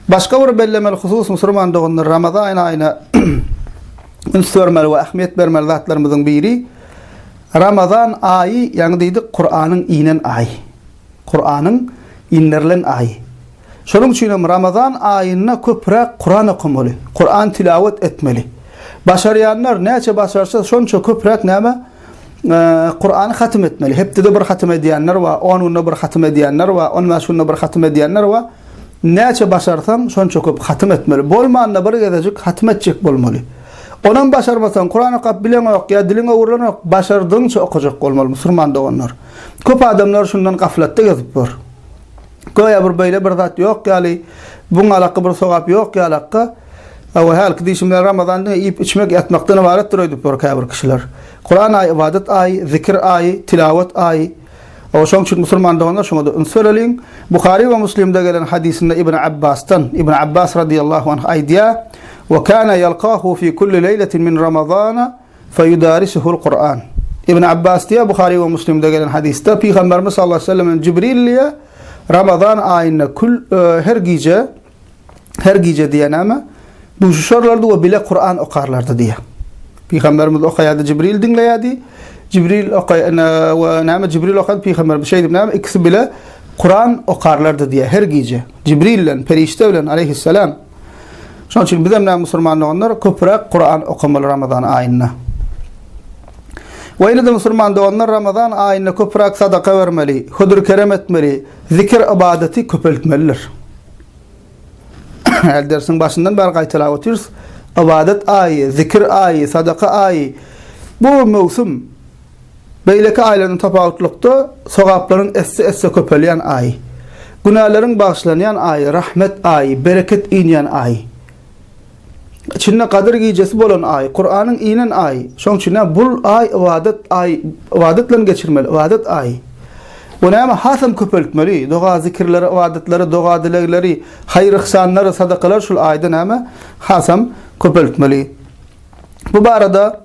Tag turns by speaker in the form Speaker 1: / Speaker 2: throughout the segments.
Speaker 1: Başga bir bellemeli husus musulman doganlar Ramazan aýyna üns bermeli we ähmiýet bermeli zatlarymyzyň biri Ramazan aýy, ýagny diýdik Kur'anyň inen aýy. Kur'anyň indirilen aýy. Şonuň üçin hem Ramazan aýynda köpräk Kur'an okamaly, Kur'an tilawet etmeli. Başarýanlar näçe başarsa şonça köpräk näme? Kurany hatym etmeli. Hepdede bir hatym edýänler we 10 günde bir hatym edýänler we 15 günde bir hatym edýänler we näçe başarsaň şonça köp hatym etmeli. Bolmanda bir gezejik hatym etjek bolmaly. Onam başarmasaň, Kuran okap bileňok ýa diliň öwrülenok, başardygyňça okajak bolmaly musulman doganlar. Köp adamlar şundan gaflatda gezip ýör. Göýä bir beýle bir zat ýok ýaly, bu ňalakga bir sogap ýok ýalakga. Hawa, hälki diýşim bilen Ramazan diňe iýip, içmek, ýatmakdan ybaratdyr öýdüp ýör käbir kişiler. Kuran aýy ybadat aýy, zikir aýy, tilawat aýy. Hawa, şonuň üçin musulman doganlar şoňa-da üns bereliň. Buhary we Muslimde gelen hadysynda Ibn Abbasdan, Ibn Abbas radiyallahu anh aýdýar, Wa kana yalkahu fi kulli leýletin min Ramazana, Feýudarisuhul Kur'an. Ibn Abbas diýýär, Buhary we Muslimde gelen hadysda Pygamberimiz sallallahu aleýhi we sellem Jibril diýýär, Ramazan aýynda kül, her gije, her gije diýýär näme? Duşuşarlardy we bile Kur'an okarlardy diýýär. Pygamberimiz okaýardy, Jibril diňleýärdi. Jibril okaý, we näme Jibril okan Pygamberimiz şeýdip näme? Ikisi bile Kur'an okarlardy diýýär her gije. Jibril bilen, perişde bilen aleýhissalam. Şonuň üçin bizem näme musulman doganlar köpräk Kuran okamaly Ramazan aýynda. We ýene-de musulman doganlar Ramazan aýynda köpräk sadaka bermeli, hödür-kerem etmeli, zikir ybadaty köpeltmelidir. Häli dersiň başyndan bäri gaýtalap otyrys, ybadat aýy, zikir aýy, sadaka aýy. Bu möwsüm Beýleki aýlardan tapawutlykda, sogaplaryň esse-esse köpelýän aýy. Günäleriň bagyşlanýan aýy, rahmet aýy, bereket inýän aýy. Içinde Gadyr gijesi bolan aýy, Kuranyň inen aýy. Şonuň üçin-ä bul aý ybadat aýy, ybadat bilen geçirmeli, ybadat aýy. Bu näme hasam köpeltmeli, doga-zikirleri, ybadatlary, doga-dilegleri, haýyr-yhsanlary, sadakalary şul aýda näme hasam köpeltmeli. Bu barada.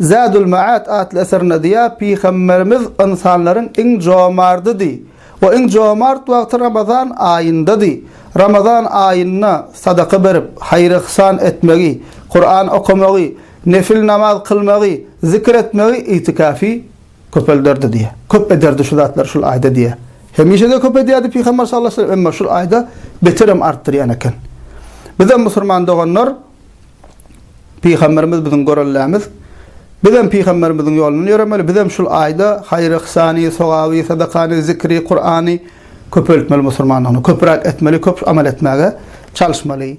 Speaker 1: Zadul Maat atly eserinde diýýär, Pygamberimiz ynsanlaryň iň jomardydy we iň jomart wagty Ramazan aýyndady. Ramazan aýynda sadaka berip, haýyr-yhsan etmegi, Kuran okamagy, nefil namaz kylmagy, zikir etmegi, itikafy köpelderdi diýýär. Köp ederdi şu zatlary şul aýda diýýär. Hemişe-de köp edýärdi Pygamber sallallahu aleyhi ve sellem, emma şul aýda beterem artdyrýan eken. Bizem musurman doganlar Pygamberimiz biziň göreldämiz. Bizem pygamberimiziň ýolundan ýöremeli, bizem şul aýda haýry yhsany, sogaby, sadakany, zikri, Kurany köpeltmeli musurmanlygyny, köpüräk etmeli, köp amal etmäge çalyşmaly.